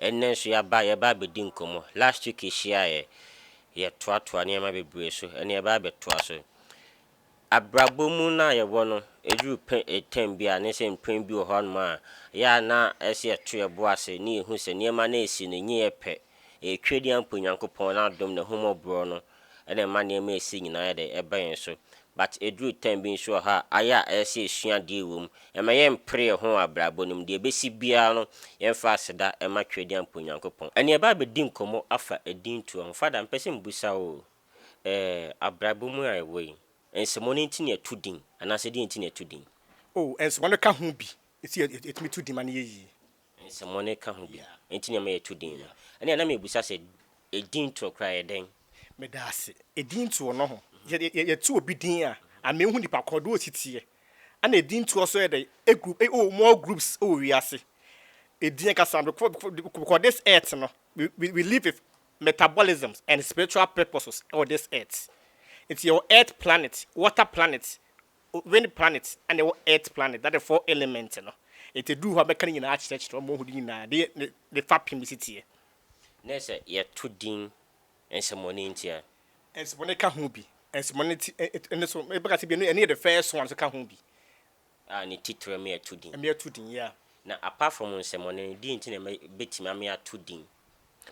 Ɛnnɛ nso yɛaba yɛreba abɛdi nkɔmmɔ. Last week yɛhyiaeɛ, yɛtoatoa nneɛma bebree so. Ɛnnɛ yɛba abɛtoa so. Abrabɔ mu no a yɛwɔ no, ɛduru pɛ ɛ time bi a, ne sɛ mprɛn bi wɔ hɔ nom a, yɛ a na ɛsɛ sɛ yɛto yɛn bo ase na yɛhu sɛ nneɛma no a ɛresi no, ɛnyɛ yɛ pɛ. Ɛretwa di ampa Onyankopɔn, N'adom, N'ahummɔborɔ no ɛna ɛma nneɛma a ɛsi nyinaa yɛ dɛ ɛba yɛn so but ɛduru time bi nso wɔ hɔ a ayɛ a ɛyɛ sɛ ɛsua adeɛ wɔ mu ɛma yɛ mpere yɛn ho wɔ abrabɔ no mu deɛ ɛbɛsi biara no yɛn fa aseda ɛma Twedeɛ mpo Nyankopɔn ɛne ɛba abɛdi nkɔmmɔ afa ɛdin toɔ ho Father mpɛ sɛ mbusa wo o ɛɛ abrabɔ mu a yɛwɔ yi nsɛmɔ no nti na yɛto din anaasɛ deɛ nti na yɛto din. Oh nsɛmɔ no ka ho bi nti yɛtumi to din ma no yɛ yie. Nsɛmmɔne ka ho bi nti na ɛma yɛto din no. Ɛnna na mebisa sɛ, Edin toɔ koraa yɛ dɛn? Meda ase. Edin toɔ no ho. Sɛ yɛto obi din a, ama yɛahu nipa korɔ, deɛ ɔsi teɛ. Ɛnna edin toɔ nso yɛ dɛn? Group, eh, oh, more groups wɔ wiase. Edin ankasa no, because this earth no, we, we live with metabolisms and spiritual purposes wɔ this earth. Nti yɛwɔ earth planet, water planet, Wind planet na ɛwɔ Earth planet na the four element no nti ɛduru hɔ a mɛka ne nyinaa akyerɛkyerɛ wɔn ho de nyinaa de ne ne fapem bɛsi teɛ. Ne sɛ yɛto din nsɛmɔne nti a. Nsɛmɔne ka ho bi. Nsɛmɔne ti ɛ ne so mɛka sɛ bi ɛno yɛ the first one nso ka ho bi. A ne titire me ato din. Me ato din yeah. Na apart from nsɛmɔne no deɛ nti na mɛ bɛtumi ame ato din.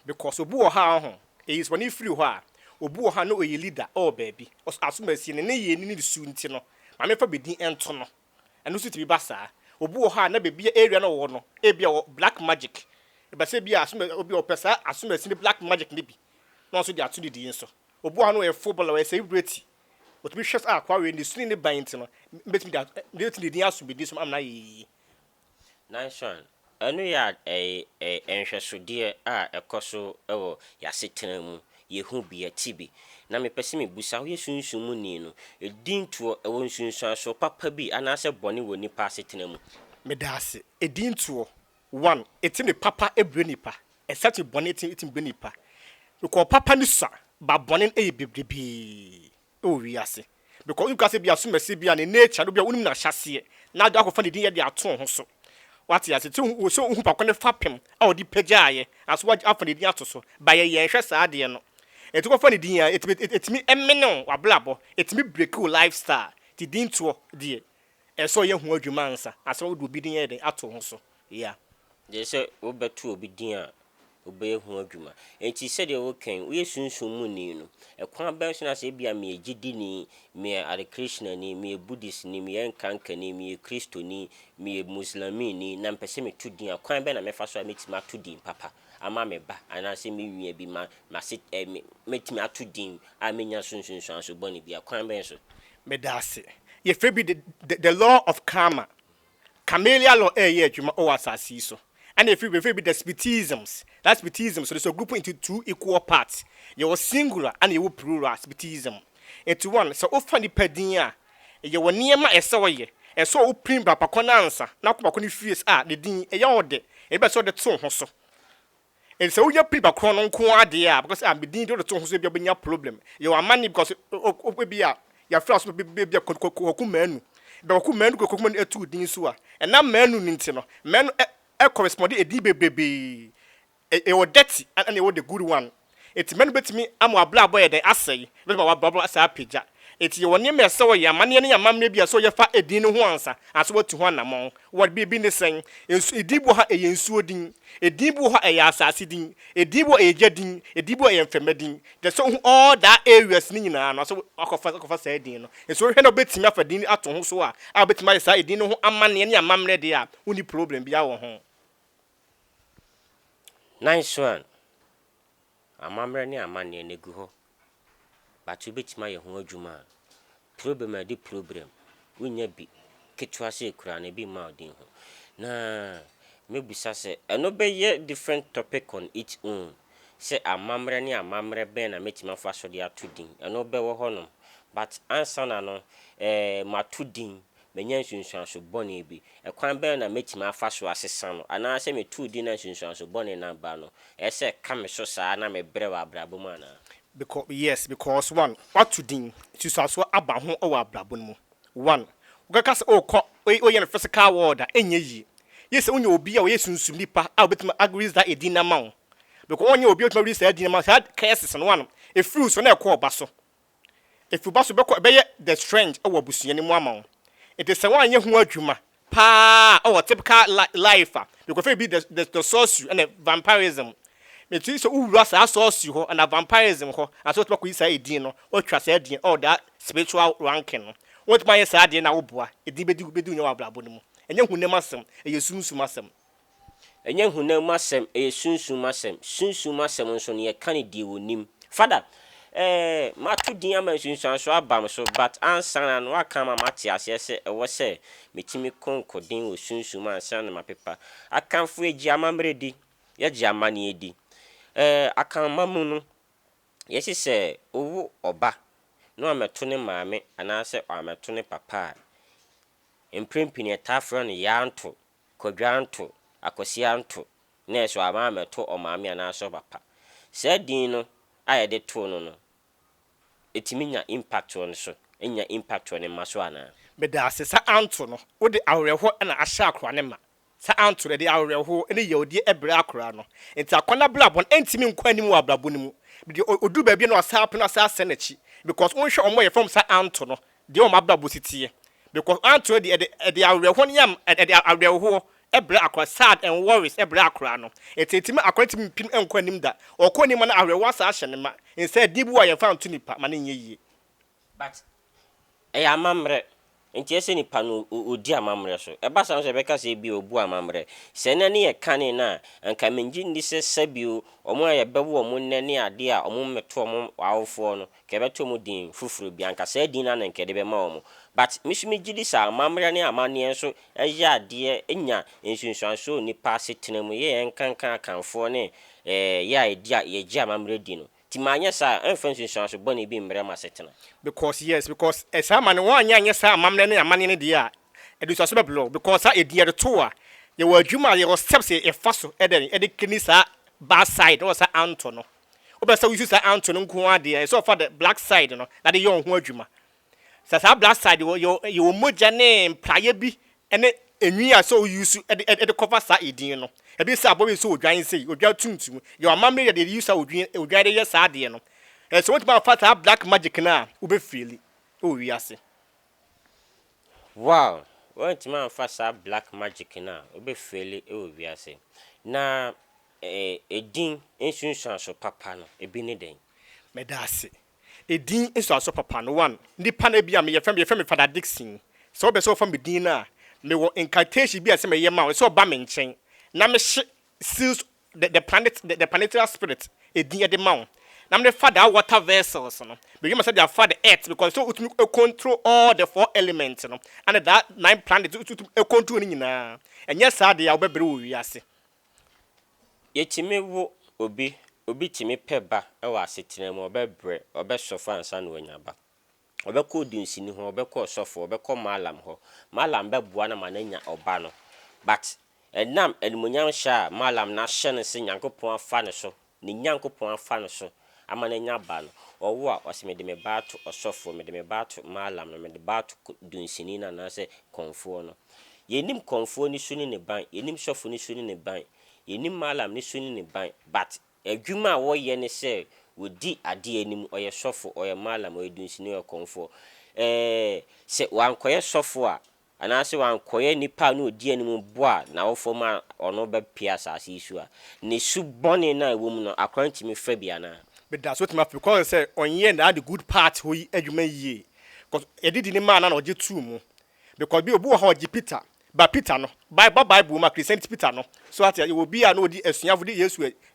Because obi wɔ hɔ a ɔho eyis bɔne firi hɔ a, obi wɔ hɔ a na ɔyɛ leader ɔwɔ baabi, ɔs asomasie ne nneyɛɛ ne ne su nti no, maame fa bɛdin nto no. Ɛno nso tumi ba saa. Obi wɔ hɔ a na baabi a area no ɔwɔ no ebi a ɔwɔ black magic, ɛbɛsɛ ebi a asoma obi a ɔpɛ saa asomasie ne black magic no bi na ɔno nso de ato ne din so. Obi wɔ hɔ a na ɔyɛ footballer, ɔyɛ celebrity, ɔtumi hwɛ sɛ akoa wei ne su ne ne ban nti no, mɛtumi de a mɛtumi de din asom bɛdin so ama no ayɛ yie. Nanson, ɛno yɛ a nhwɛsodeɛ a ɛkɔso wɔ y'asetena mu, yehu bi, yɛte bi. Na mepɛ sɛ mibisa, woyɛ Sunsum mu ni no, edin toɔ, ɛwɔ nsunsuansoɔ papa bi anaasɛ bɔne wɔ nipa asetena mu? Medaase, edin toɔ, one, etumi papa brɛ nipa, ɛsan tumi bɔne tumi brɛ nipa, because papa no sua, but bɔne no yɛ bebrebee. wɔ wiase. Because wonim koraa sɛ bi asomasie bi a ne nature no bi a wonim n'ahyɛaseɛ na wode akɔfa ne din yɛ de ato wo ho so. Wate ase? Sɛ wohu sɛ wohu pako ne fapem a ɔde pagyaaeɛ anaso woagye afa ne din ato so. Ba yɛ yɛnhwɛ saa adeɛ no. Ɛti kɔfa ne din a ɛtumi ɛtumi ɛmene wo w'abrabɔ. Ɛtumi breaki wo lifestyle. Ti din toɔ deɛ. Ɛsɛ sɛ ɔyɛ ho adwuma ansa asa wode obi din ayɛ dɛn ato ho so yeah. Gyɛ sɛ wo bɛ to obi din a obɛyɛ ho adwuma nti sɛdeɛ wo kɛn woyɛ sunsum mu ni no ɛkwan bɛn so na sɛ ebia meyɛ gyidini meyɛ Hare Krishna ni meyɛ Buddhist ni meyɛ Nkanka ni meyɛ Kristo ni meyɛ Muslamii ni na mepɛ sɛ meto din a kwan bɛn na mɛfa so a mɛtumi ato din papa. ama me ba anaasɛ me nua bi ma m'ase ɛ me matumi ato din a menya so nsunsuanso bɔne biara. Kwan bɛn so? Meda ase. Yɛfrɛ bi the the law of karma. Camellia law ɛreyɛ adwuma wɔ asase yi so. Ɛna yɛfrɛ yɛfrɛ bi the Spitisms. That Spitisms no is grouped into two equal parts. Yɛwɔ singular ɛna yɛwɔ plural Spitism. Nti wɔn sɛ wofa nipa din a Yɛ wɔ nneɛma a ɛsɛ ɔyɛ. Ɛsɛ sɛ opirim bra pa kɔn ansa na akɔ pa ko no fies a ne din yɛ ɔdɛ. Ebi bɛ sɛ ɔde to ho so. Enti sɛ woyɛ piri pa korɔn no nko ara deɛ a, because ah me din de ɔde to ho so ebi a wobɛnya problem. Yɛ wɔ amanne because o ebi a yɛafiri aso ma bɛ ebi a kɔ kɔ kɔku manu. Bɛ kɔku manu kɔku manu ɛtu wo din so a, ɛnam manu no nti no, manu ɛ ɛ correspond edin bebrebee. E e wɔ dirty ɛna e wɔ the good one. Eti mɛno bɛtumi ama w'abrabɔ ayɛ dɛn? Asɛe. Bɛma w'abrabɔ asan apagya. Eti yɛwɔ nneɛma a ɛsɛ sɛ wɔyɛ, amanneɛ ne amammerɛ bi a ɛsɛ sɛ wɔyɛ fa edin no ho ansa ansa woatu ho anammɔn. Wɔ bi bi ne sɛn? Nsu edin bi wɔ hɔ a ɛyɛ nsuo din. Edin bi wɔ hɔ a ɛyɛ asase din. Edin bi wɔ hɔ a ɛyɛ gya din. Edin bi wɔ hɔ a ɛyɛ mfɛmma din. Kyerɛ sɛ wohu all that areas no nyinaa no ansa woakɔfa akɔfa saa edin no. Nso wohwɛ na wobɛtumi afa din ato ho so a a wobɛtumi ayɛ saa edin no ho amanneɛ ne amammerɛ deɛ a wonni problem biara wɔ ho. Nan Xuan, Amammerɛ ne amanneɛ no agu hɔ but wobɛtumi ayɛ ho adwuma a, problem a ɛde problem, wonya bi ketewa sɛ ɛkura no ɛbi mma wo den ho. Na mɛbisa sɛ, ɛno bɛyɛ different topic on its own sɛ amammerɛ ne amammerɛ bɛn na mɛtumi afa so de ato din, ɛno bɛwɔ hɔ nom but ansa na no eh mato din Manya nsunsuanso bɔne bi. Ɛkwan bɛn na mɛtumi afa so asesa no? Anaa sɛ meto din na nsunsuanso bɔne no aba no, ɛyɛ sɛ ɛka me so saa ara na mebrɛ wɔ abrabɔ mu anaa? Becau, Yes, because one, woato din, nsunsuanso aba ho wɔ abrabɔ no mu. One, wokɛka sɛ wokɔ, wei woyɛ no physical world a, ɛnyɛ yie. Ye sɛ wonya obi a ɔyɛ sunsum nipa a ɔbɛtumi a release that edin no ama wo. Becau, wonyɛ obi a ɔbɛtumi a release saa din no ama wo, saa curses no, one, ɛfiri wo so na ɛkɔ ɔba so. Efi wo ba so bɛkɔ ɛbɛyɛ the strength wɔ abusua no mu ama wo. Enti sɛ woanyɛ ho adwuma paa a ɔwɔ typical life a, because ebi the the the source you ɛna vampirism. Meti sɛ wowura saa source you hɔ ɛna vampirism hɔ na sɛ wotumi akɔyi saa edin no, woatwa saa edin all that spiritual ranking no. Wotumi ayɛ saa deɛ na woboa, edin bɛdi bɛdi wo nyɛ wɔ abrabɔ no mu. Ɛnyɛ honam asɛm, ɛyɛ sunsum asɛm. Ɛnyɛ honam mu asɛm, ɛyɛ sunsum mu asɛm. Sunsum mu asɛm nso no, yɛka no deɛ wɔnim. Father, eh, mato din ama nsunsuansoɔ aba me so, but ansa na no woaka ama mate aseɛ sɛ ɛwɔ sɛ metumi konko den wɔ sunsum mu ansa na mapepa. Akanfoɔ yɛgye amammerɛ di, yɛgye amanneɛ di. Eh, Akanman mu no, yɛse sɛ wowo ɔba na wammɛto ne maame anaasɛ wammɛto ne papa a, mprempini yɛtaa frɛ no Yaantow. Kwadwa Anto, Akwasi Anto, nɛɛse wɔ ama ammɛto ɔmaame anaasɛ ɔpapa. Saa din no a yɛde too no no, ɛtumi nya impact wɔ ne so, ɛnnya impact wɔ ne mma so anaa? Meda ase, Sir Anto no, wode awerɛhoɔ na ahyɛ akoraa no ma. Sir Anto no, ɛde awerɛhoɔ ne yawdie brɛ akoraa no. Nti akwan abrabɔ no, ɛntumi nkɔ anim wɔ abrabɔ no mu. Deɛ ɔduru baabi no, ɔsan apene, ɔsan asane n'akyi. Because wonhwɛ wɔn a wɔyɛ fam Sir Anto no, deɛ wɔn abrabɔ si teɛ. Because Antonio deɛ ɛde ɛde awerɛhoɔ no yam ɛde awerɛhoɔ brɛ akora sad and worries brɛ akora no. Ɛti ɛtumi ma akora no tumi mpem nkɔ anim da. Ɔkɔ anim a na awerɛhoɔ asan ahyɛ no ma. Nsa ɛdeɛ bi wɔ hɔ a yɛmfa nto nipa ma no nyɛ yie. But ɛyɛ amammerɛ. Nti ɛsɛ nipa no ɔdi amammerɛ so. Ɛba saa nso ɛbɛka sɛ ebia ɔbu amammerɛ. Sɛ ɛnɛ ne yɛ kane no a, anka mengye nni sɛ sɛbio wɔn a yɛbɛwo wɔn nnɛ ne adeɛ a wɔmmɛto wɔn awofoɔ no Nka yɛbɛto ɔmo din foforo bi, anka saa din no ara na nka yɛde bɛma ɔmo. But me nso megye di sɛ amammerɛ ne amanneɛ nso yɛ adeɛ nya nsunsuansoɔ wɔ nnipa asetena mu, yɛ yɛn nkanka Akanfoɔ ne yɛ a yɛdi a yɛgye amammerɛ di no. Nti manyɛ saa a, ɛmfa nsunsuanso bɔne bi mmrɛ m'asetena. Because yes, because saa ma no wɔanyɛ anyɛ saa amammerɛ ne amanneɛ no deɛ a, ɛde nsunsuanso bɛbrɛ wo. Because saa edin yɛde to wo a, yɛwɔ adwuma a yɛwɔ steps a yɛfa so dɛn, de kani saa bad side no wɔ saa anto no. Wobɛ sɛ wo use saa anto no nko ara deɛ, ɛyɛ sɛ ɔfa the black side no na de yɛ ɔho adwuma. Sɛ saa black side wɔ yɛ yɛ wɔ mogya ne mpraeɛ bi ne enwi a sɛ wo use de de de cover saa edin no. Ebi sɛ abɔ bi sɛ odwan sei, odwan tuntum. Yɛ wɔ amammerɛ yɛ de yɛ use a odwin odwan de yɛ saa adeɛ no. Ɛyɛ sɛ wotumi afa saa black magic no a wobɛ feeli wɔ wiase. Wow! Woantumi amfa saa black magic no a wobɛ feeli wɔ wiase. Na Edin nsunsuanso papa no, ebi ne dɛn? Meda ase. Edin nsunsuanso papa no, one, nnipa no, ebia me, yɛfrɛ me, yɛfrɛ me Father Dickson. Sɛ wopɛ sɛ wɔfa me din no a, mewɔ incantation bi a ɛsɛ sɛ meyɛ ma wo, ɛsɛ sɛ ɔba me nkyɛn na mehye seals, the, the planet, the, the planetarial spirit edin de ma wo, na mede fa that water vessels no, mewie ma sɛ de afa the earth, because sɛ wotumi control all the four elements no, ɛne that nine planets, wotumi control ne nyinaa. Ɛnyɛ saa deɛ a, wobɛbrɛ wɔ wiase. Yɛtumi wo obi, obi tumi pɛ ba wɔ asetena mu, ɔbɛbrɛ, ɔbɛsɔfo ansa na wanya ba. Ɔbɛkɔ odunsini hɔ, ɔbɛkɔ ɔsɔfo hɔ, ɔbɛkɔ mallam hɔ, mallam bɛboa no ama no anya ɔba no. But ɛnam animuonyam hyɛ a mallam no ahyɛ no sɛ Nyankopɔn afa ne so ne Nyankopɔn afa no so ama no anya ba no, ɔwo a, ɔse, mede me ba ato ɔsɔfoɔ, mede me ba ato Mallam no, mede ba ato dunsini no anaasɛ kɔmfoɔ no. Yɛnnim kɔmfoɔ no su ne ne ban, yɛnnim sɔfo no su ne ne ban, yɛnnim Mallam no su ne ne ban, but adwuma a wɔyɛ ne sɛ wɔdi adeɛ anim, ɔyɛ sɔfo, ɔyɛ Mallam, ɔyɛ dunsini, ɔyɛ kɔmfoɔ. Ɛɛɛ, sɛ wankɔyɛ sɔfo a, anaasɛ wankɔyɛ nipa a na odi anim bo a n'awofoɔ ma ɔno bɛpue asase yi so a, ne su bɔne no a ɛwɔ mu no, akora no tumi fa bi anaa? Meda so tumi afe kɔn sɛ ɔnyɛɛ naa the good part hɔ yi adwuma yie cos yɛde di ne maa naa na ɔgye too mu because bi obi wɔ hɔ a ɔgye Peter but Peter no ba bible mu a Christianity Peter no so ate yɛwɔ obi a na ɔdi asuafo de Yesu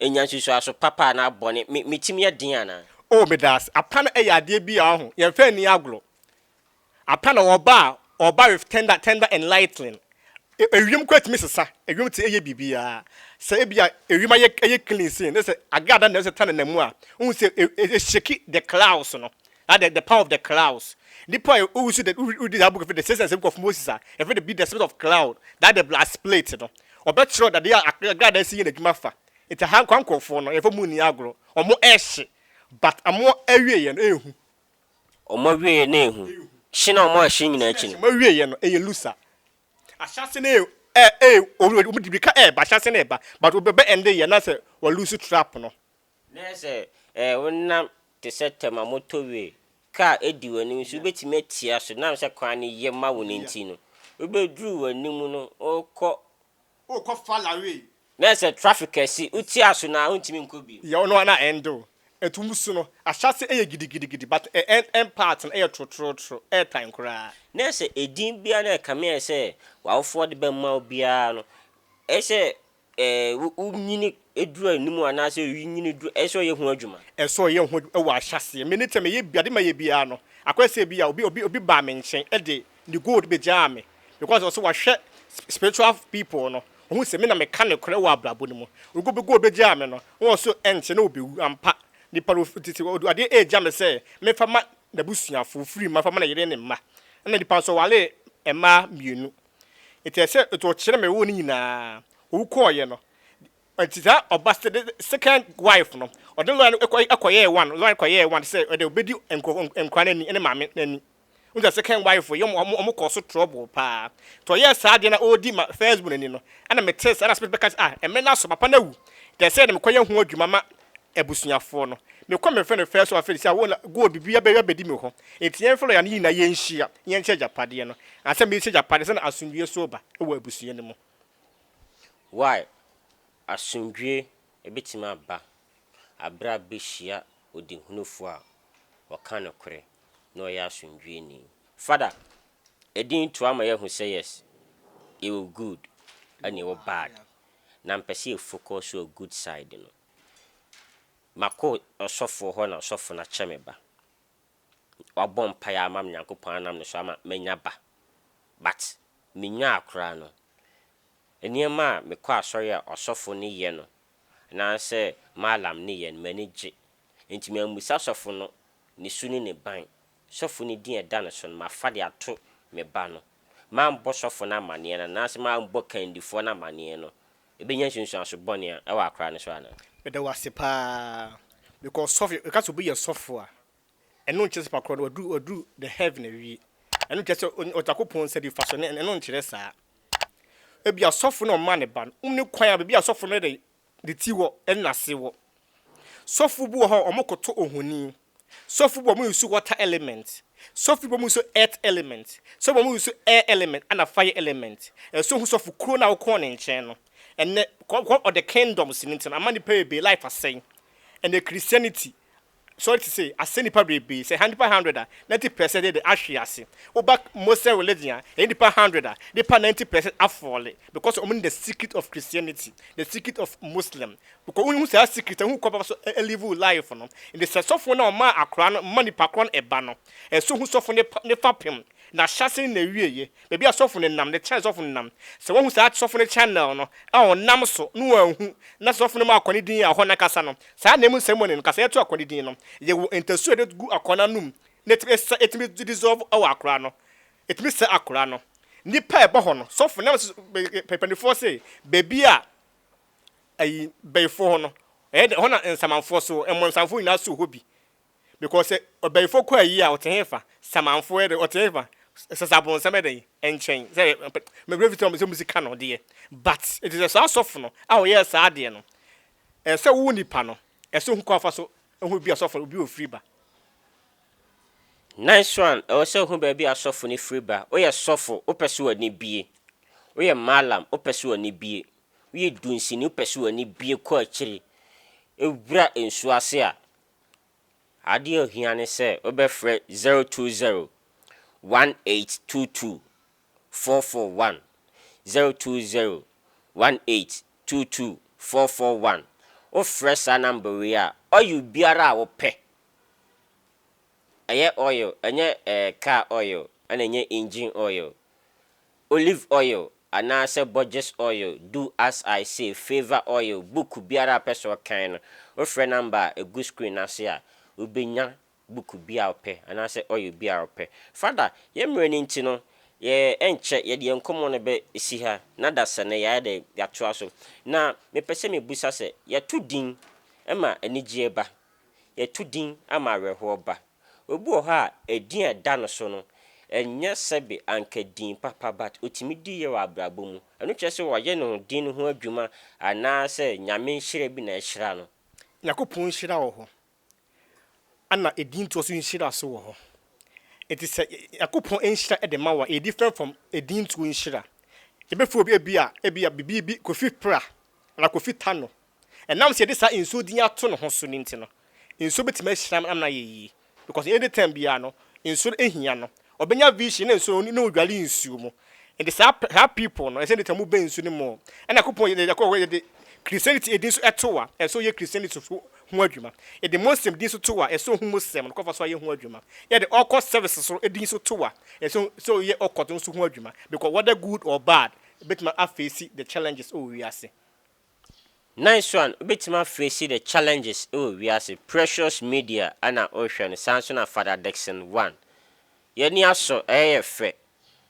Nya nsusuaso papa anaa bɔne. Me me tirim yɛ den anaa? Oh medaase. Apa no yɛ adeɛ bi a wahu, yɛn mfa nni agorɔ. Apa no ɔba a, ɔba with tender tender and lightling. Ewiem koraa tumi sesa, ewiem tumi yɛ biribiara. Sɛ ebia ewiem ayɛ ayɛ clean sei, na sɛ agrada na ɛsɛ tanenam mu a, wohu sɛ e e shake the clouds no. Na the the power of the clouds nipa a owu so the uri uri that book efi the six asem of Moses a efi the be the spirit of cloud that the blood split no ɔbɛ kyerɛ ɔdade a agrada esi yɛ n'adwuma fa nti aha nkwa nkorɔfoɔ no yɛfɔ mu ni agorɔ ɔmo ɛhye but ɔmo ɛwie yɛ no ehu Ɔmo ɛwie yɛ no ehu hye na ɔmo ɛhye nyinaa akyi no. Ɔmo ɛwie yɛ no ɛyɛ lusa ahyɛ ase no ɛ ɛ ɔmo de mirika ɛɛba ahyɛ ase no ɛɛba but ɔbɛ bɛ ɛnde yɛ na sɛ wɔ lusu trap no Na sɛ wonam te sɛ tɛm a motowee ka a edi w'anim nso, wubetumi atia so, nam sɛ kwan no ye ma wo no nti no. Wubeduru w'anim no, worekɔ. Worekɔ Faraway. Na sɛ traffic kɛse, wutia so no a, wuntumi nkɔ bio. Yɛ ɔno a na ɛnde o. Ɛto mu su no, ahyɛase yɛ gidigidigidi, but ɛn part no yɛ trotrootro, ɛyɛ tan koraa. Na sɛ edin biara na ɛkame a ɛsɛ sɛ w'awofoɔ de bɛma wo biara no, ɛsɛ sɛ Ɛɛ, wo nyini duru anim anaasɛ oyi nyini duru, ɛsɛ sɛ ɔyɛ ho adwuma. Ɛsɛ sɛ ɔyɛ ho adwuma wɔ ahyɛaseɛ. Me ne sɛ meyɛ bi, ade mayɛ biara no, akɔyɛ sɛ bi a obi obi obi baa me nkyɛn de ne gold bɛgyaa me because ɔsɛ wahwɛ spiritual people no, ɔhu sɛ me na meka nokorɛ wɔ abrabɔ no mu. Ɔde gold bɛgyaa me no, na ɔsɛ ɛnkyɛ na ɔbɛwu. Ampa, nipa no ɔte sɛ ɔde adeɛ regya me sɛ memfa ma n'abusuafoɔ, firi mma mfa ma ne yere ne mma. Ɛna nipa nso ɔware mmaa mmienu. Enti ɛsɛ sɛ ɔkyerɛ me wo no nyinaa. Owu kɔɔeɛ no, enti saa ɔba the second wife no, ɔde lɔya no kɔ kɔyɛɛ one, lɔya no kɔyɛɛ one sɛ ɔde ɔbɛdi nkurɔfo nkwadaa no ani ne maame no ani. Wohu sɛ second wife yi, wɔn wɔn kɔɔ so trouble paa. Nti ɔyɛɛ saa deɛ na ɔredi ma first born ani no, ɛna metee saa na asɛm bɛka sɛ ah, mmerɛ no aso, papa no awu. Nti ɛsɛ sɛ mekɔyɛ ho adwuma ma abusuafoɔ no. Me kɔ me fɛ no fɛɛ so afei deɛ sɛ gold biribi abɛ abɛdi me hɔ. Nti yɛn fɛ lɔya no yɛ nyinaa yɛn nhyia yɛn kyɛ agyapadeɛ no. Ansa me kyɛ agyapadeɛ sɛ na asomdwie so reba wɔ abusua no mu. Why asomdwie ɛbɛtumi aba aberɛ a bɛhyia ɔdihunufoɔ a ɔka nokorɛ na ɔyɛ asomdwieni. Fada, ɛdin to ama yɛ ahu sɛ yes yɛwɔ good ɛna yɛwɔ bad. na mepɛ sɛ yɛ focus wɔ good side no. Makɔ ɔsɔfoɔ hɔ na ɔsɔfo no akyɛ me ba. Wabɔ mpaeɛ ama me Nyankopɔn anam ne so ama manya ba. But menyaa koraa no, nneɛma a mekɔ asɔre a ɔsɔfo no yɛ no anaasɛ Mallam no yɛ no m'ani gye. Nti mammisa sɔfo no ne su ne ne ban Sɔfo no din a ɛda no so no, mafa de ato me ba no. Mambɔ sɔfo no amanneɛ no anaasɛ mambɔ kandifoɔ no amanneɛ no, ɛbɛnya nsunsuanso bɔne a ɛwɔ akora no so anaa? Meda wo ase paa. Because sɔfo, yɛka sɛ obi yɛ sɔfo a, ɛno nkyerɛ sɛ pakorɔ no waduru, waduru the heaven awie. Ɛno nkyerɛ sɛ ɔn, Onyankopɔn nsa nifa so, ɛno, ɛno nkyerɛ saa. Ebia sɔfo na ɔma ne ba no, wonni kwan a, baabi a sɔfo no yɛ dɛ, ne ti wɔ nase wɔ sɔfo bi wɔ hɔ wɔn koto ohoni sɔfo bi wɔn use water element sɔfo bi wɔn use earth element sɔfo wɔn use air element ɛna fire element ɛso ho sɔfo kuro na wokɔn ne nkyɛn no ɛnɛ kɔ kɔ ɔde kingdoms ne ntɛm ama nipa bebree life asɛn ɛnɛ christianity sɔre te sɛ asɛ nipa bebrebe sɛ ha nipa hundred a ninety pɛsɛn de de ahwe ase wo ba mosɛ religion a ɛyɛ nipa hundred a nipa ninety pɛsɛn afɔle because ɔmo nim the secret of christianity the secret of muslim because wo hu saa secret a hu kɔ bɛfa so live wo life no nti sɛ sɔfo na ɔma akora no ma nipa korɔ no ɛba no ɛso hu sɔfo ne ne fa pem na hyase ne na wie ye baabi a sɔfo ne nam ne kyɛn sɔfo ne nam sɛ wahu saa sɔfo ne channel no a ɔnam so no anhu na sɔfo no ma akɔ ne din a hɔ na kasa no Saa ananmu nsɛmmɔne no, kasaeɛ to akɔ no din no, yɛwɔ ntasuo a yɛde gu akɔ no anom na ɛtumi sesa, ɛtumi dissolve wɔ akora no, ɛtumi sɛe akora no. Nnipa a ɛbɔ hɔ no, sɔfo nam so panifoɔ se baabi a ayi, bayifoɔ hɔ no, ɛyɛ dɛ, ɛhɔ na nsamanfoɔ so, mmɔnsamfoɔ nyinaa so wɔ hɔ bi. because sɛ ɔbɛyifoɔ kɔ ayie a ɔte hefa? Samanfoɔ yɛ dɛn ɔte hefa? Sɛ sɛ abɔnsam yɛ dɛn nkyɛn? Sɛ me werɛ fi sɛ ɔmo sika no deɛ but nti sɛ saa sɔfo no a ɔyɛɛ saa adeɛ no ɛsɛ wo nipa no ɛsɛ ohu kwan a ɔfa so hu bia sɔfo no obi wɔ firi ba. Nice one ɛwɔ sɛ ohu baabi a sɔfo no firi ba woyɛ sɔfo wopɛ sɛ w'ani bie woyɛ mallam wopɛ sɛ w'ani bie woyɛ dunsini wopɛ sɛ w'ani bie kɔ akyiri wura nsuo ase a Adeɛ a ohia ne sɛ wobɛfrɛ 0201822441, 0201822441. Wofrɛ saa number wei a, oil biara a wopɛ, ɛyɛ oil, ɛnyɛ ɛɛ car oil ɛna ɛnyɛ engine oil, Olive oil anaasɛ Borges oil Do As I Say Favour Oil Buuku biara a wopɛ sɛ ɔkan no, wofrɛ number a ɛgu screen no ase a, wobɛnya buuku bi a wopɛ anaasɛ oil bi a wopɛ. Father, yɛn mmerɛ no nti no, yɛ ɛnkyɛ yɛde yɛn nkɔmmɔ no bɛsi ha na adasa no yɛayɛ dɛn? Yɛatoa so. Na mepɛ sɛ mebusa sɛ, yɛto din ma anigyeɛ ba? yɛto din ama awerɛhoɔ ba. Obi wɔ hɔ a, edin a ɛda no so no, ɛnyɛ sɛbe anka din papa but ɔtumi di yɛ wɔ abrabɔ mu. Ɛno kyerɛ sɛ wayɛ ne ho din no ho adwuma anaa sɛ Nyame nhyira bi na ahyira no. Nyankopɔn nhyira wɔ hɔ ɛna edin toɔ so nhyira nso wɔ hɔ. Enti sɛ Nyankopɔn nhyira ɛde ma wo a, ɛyɛ different from edin toɔ nhyira. Yɛbɛfrɛ obi ebia, ebia bibi bi, Kofi Pra anaa Kofi Tano. Ɛnam sɛ yɛde saa nsuo din ato ne ho so no nti no, nsuo bɛtumi ahyira no ama no ayɛ yie. Because any time biara no, nsuo no hia no. Ɔbɛnya vision na nsuo no, na ɔdware nsuo mu. Nti saa pɛ, saa people no, ɛsɛ any time wobɛn nsuo no mu. Ɛna Nyankopɔn yɛ, yɛ, yɛ, yɛde Christianity din nso to a, ɛsɛ ɔyɛ Christianity so ho adwuma. Yɛde Muslim din nso to a, ɛsɛ ɔhu Muslim no kwan fa so ayɛ ho adwuma. Yɛde Occult service so din nso to a, ɛsɛ sɛ ɔyɛ Occult no nso ho adwuma. Because whether good or bad, ɛbɛtumi afeesi the challenges ɛwɔ wiase. Nice one, wobɛtumi afei si the challenges wɔ wiase, precious media na wohwɛ no saa nso na Father Dickson one. Y'ani asɔ, ɛyɛ yɛ fɛ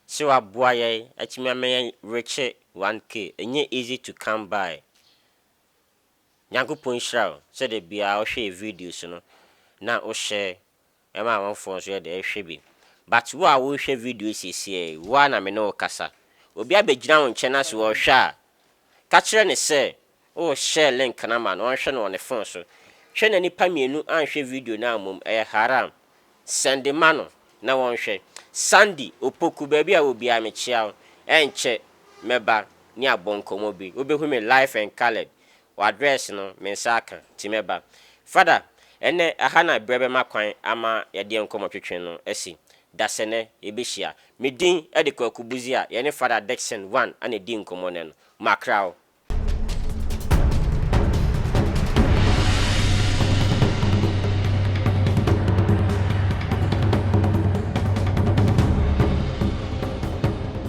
sɛ waboa yɛn atumi ama yɛn rekye 1K, ɛnyɛ easy to come by. Nyankopɔn nhyira wo sɛ da biara wohwɛ yɛ videos no na wo share. Ɛma amanfoɔ nso yɛ dɛ hwɛ bi. But wo a worehwɛ video yi seesei yi, wo ara na me ne wo kasa. Obi abɛgyina wo nkyɛn na sɛ ɔrehwɛ a, ka kyerɛ no sɛ worehyɛɛ link no ama no ɔnhwɛ no wɔ ne phone so. Hwɛ na nnipa mmienu anhwɛ video no ammom, ɛyɛ haram. Sɛnde ma no na wɔnhwɛ. Sandy Opoku, baabi a wɔ biara mekyea wo. Ɛnkyɛ mɛba ne abɔ nkɔmmɔ bi. Wobɛhu me live and coloured. W'address no me nsa aka nti mɛba. Father, ɛnnɛ ɛha na berɛ bɛma kwan ama yɛdeɛ nkɔmmɔtwetwe no asi. Dasɛnɛ yɛbɛhyia. Me din de Kwaku Buzi a yɛne Father Dickson Wan na ɛdi nkɔmmɔ nnɛ no. Makra wo.